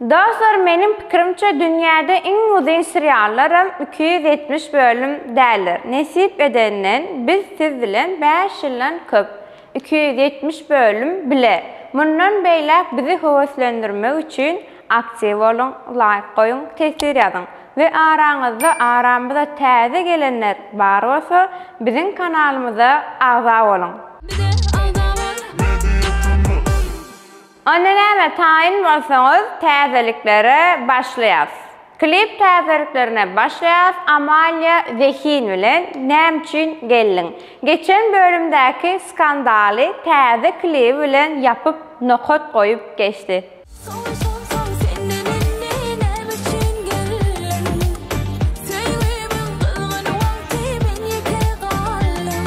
Dostlar meniň pikirimçe dünýäde iň uzyn seriallaram iki ýüz ýetmiş bölüm däldir nesip edenden biz siz bilen bäş ýyldan köp iki ýüz ýetmiş bölüm bile mundan beýläk bizi höweslendirmek üçin aktiw boluň laýk goýuň teswir ýazyň we araňyzda aramyza täze gelenler bar bolsa biziň kanalymyza agza boluň. Bize agza bol. Onda näme taýyn bolsaňyz täzeliklere başlaýas. Klip täzeliklerine başlaýas Amalia zehin bilen näme üçin geldiň. Geçen bölümdäki skandaly täze klibi bilen ýapyp nokat goýup geçdi. Soň sorsaň senden indi näme üçin geldiň. Söýgimiň gyzgyn wagty men ýeke galdym.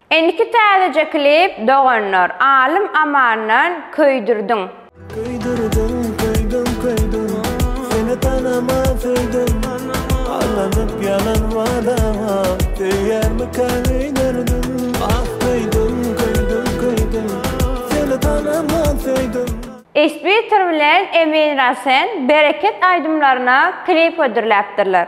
Indiki täzeje klip doganlar. Alym Amandan köýdürdiň. Köýdürdiň köýdüm köýdüm seni tanaman söýdüm Aldanyp ýalan wadaňa söýýärmikä öýderdim Ah köýdüm köýdüm köýdüm seni tanaman söýdüm. Isbitar bilen Emin Rasen bereket aýdymlaryna klip hödürläpdirler.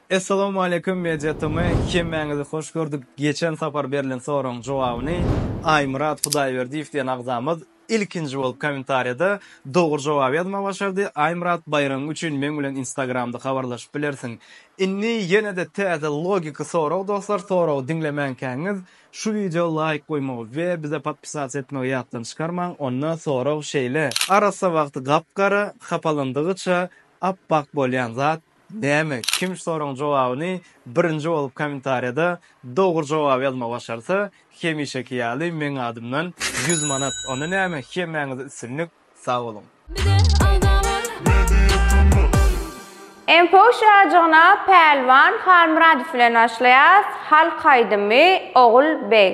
Essalawmaleýkum Media TM hemmäňizi hoş gördük geçen sapar berlen soragyň jogabyny Aýmyrat Hudaýberdiýew diýen agzamyz ilkinji bolup komentariýada dogry jogaby ýazmagy başardy Aýmyrat baýragyň üçin meň bilen instagramda habarlaşyp bilersiň Indi ýenede täze logiki sorag dostlar soragy diňlemänkäňiz şu wideo laýk goýmagy we bize podpisatsa etmegi ýatdan çykarmaň onda sorag şeýle arassa wagty gap gara hapalandygyça ap bak bolýan zat Näme, kim şu soragyň jogabyny birinji bolup kommentariýada dogry jogap ýazmagy başarsa, hemişeki ýaly meň adymdan ýüz manat. Onda näme, hemmäňize üstünlik, sag boluň! Info şajygyna Pälwan Halmyradow bilen başlaýas, halk aýdymy Ogul beg.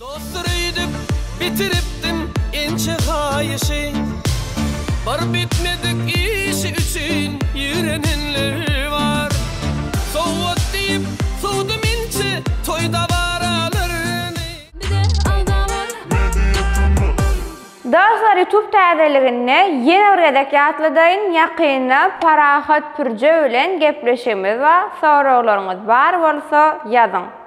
Dostdur öýdüp bitiripdim inçe haýyşy Bir bitmedik işi üçin ýigrenenler bar Sowgat diýip sowdum inçe toý dabaralaryny. Dostlar YouTube täzeliginde ýene bir gezek ýatladaýyn ýakynda Parahat Pürje bilen gepleşigimiz bar soraglaryňyz bar bolsa ýazyň.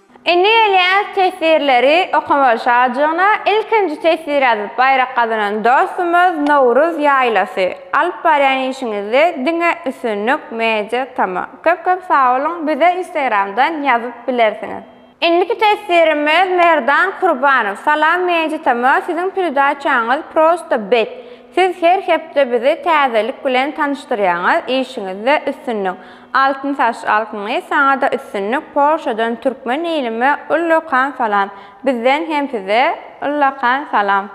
Indi gelýän teswirleri okamalyşajygyna ilkinji teswir ýazyp baýrak gazanan dostumyz Nowruz ýaýlasy. Alyp barýan işiňizde diňe üstünlik Media Tama. Köp köp sagboluň bize Instagramdan ýazyp bilersiňiz. Indiki teswirimiz Merdan Kurbanow. Salam Media Tama siziň peredaçaňyz prosta bet. Siz her hepde bizi täzelik bilen tanyşdyrýaňyz, işiňizde üstünlik. Altyn saç alkyny saňada üstünlik Polşadan Türkmen ilime ullakan salam bizden hem size ullakan salam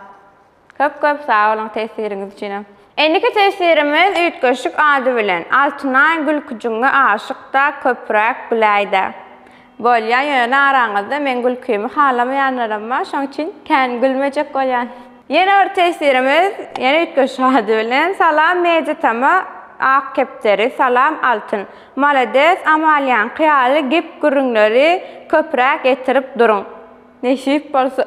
köp köp sag boluň tesiriňiz üçinem. Indiki tesirimiz üýtgeşik ady bilen Altynaý gülküjiňe aşykda köpüräk biläýdä. Bolýa, ýöne araňyzda meň gülkimi halamaýanlaram bar, şoň üçin kän gülmejek bolýan. Ýene bir tesirimiz, ýene üýtgeşik ady bilen, Salam Media Tama Ak kepderi, Salam Altyn. Malades, Amalýaňky ýaly gep-gürrüňleri köpräk ýetirip duruň. Nesip bolsa.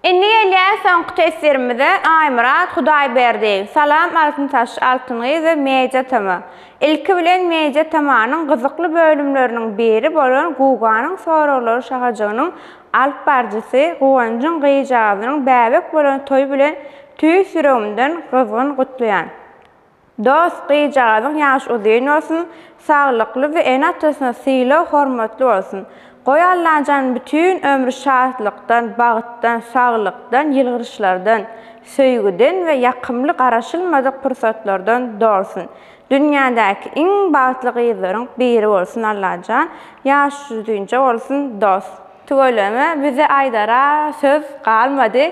Indi gelýäs soňky teswirimize Aýmyrat Hudaýberdi. Salam Altyn Taş, Altyn gyz we Media tama. Ilki bilen Media tamanyň gyzykly bölümleriniň biri bolan Guganyň soraglary şahajygynyň alyp barjysy Guwanjyň gyjagazynyň bäbek bolan toýy bilen tüýs ýüregimden gyzgyn gutlaýan. Dost, gyzjagazyň ýaş uzyn bolsun, saglykly we ene-atasyna sylag-hormatly bolsun. Goý Allajan bütin ömri şatlykdan, bagtdan, saglykdan, ýylgyryşlardan, söýgüden we ýakymly garaşylmadyk pursatlardan dolsun. Dünýädäki iň bagtly gyzlaryň biri bolsun Allajan, ýaş uzynja bolsun dost. Tüweleme bize aýdara söz galmady.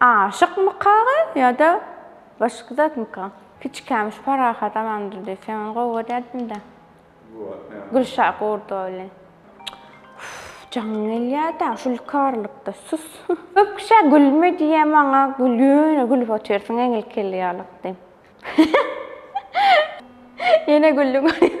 Aşykmykaga ýa-da başga zatmyka? Kiçikäm şu Parahat Amandyr diýip sen ony gowy görýärdiň-dä. Gülşah Gurdowa bilen. Uff, jaňyň gelýär-dä şu lükarlykda, sus. Köp kişä gülme diýýä maňa ýöne gülüp otyrsyň eňil kelle ýalak diýip. Ýene güldi görýän.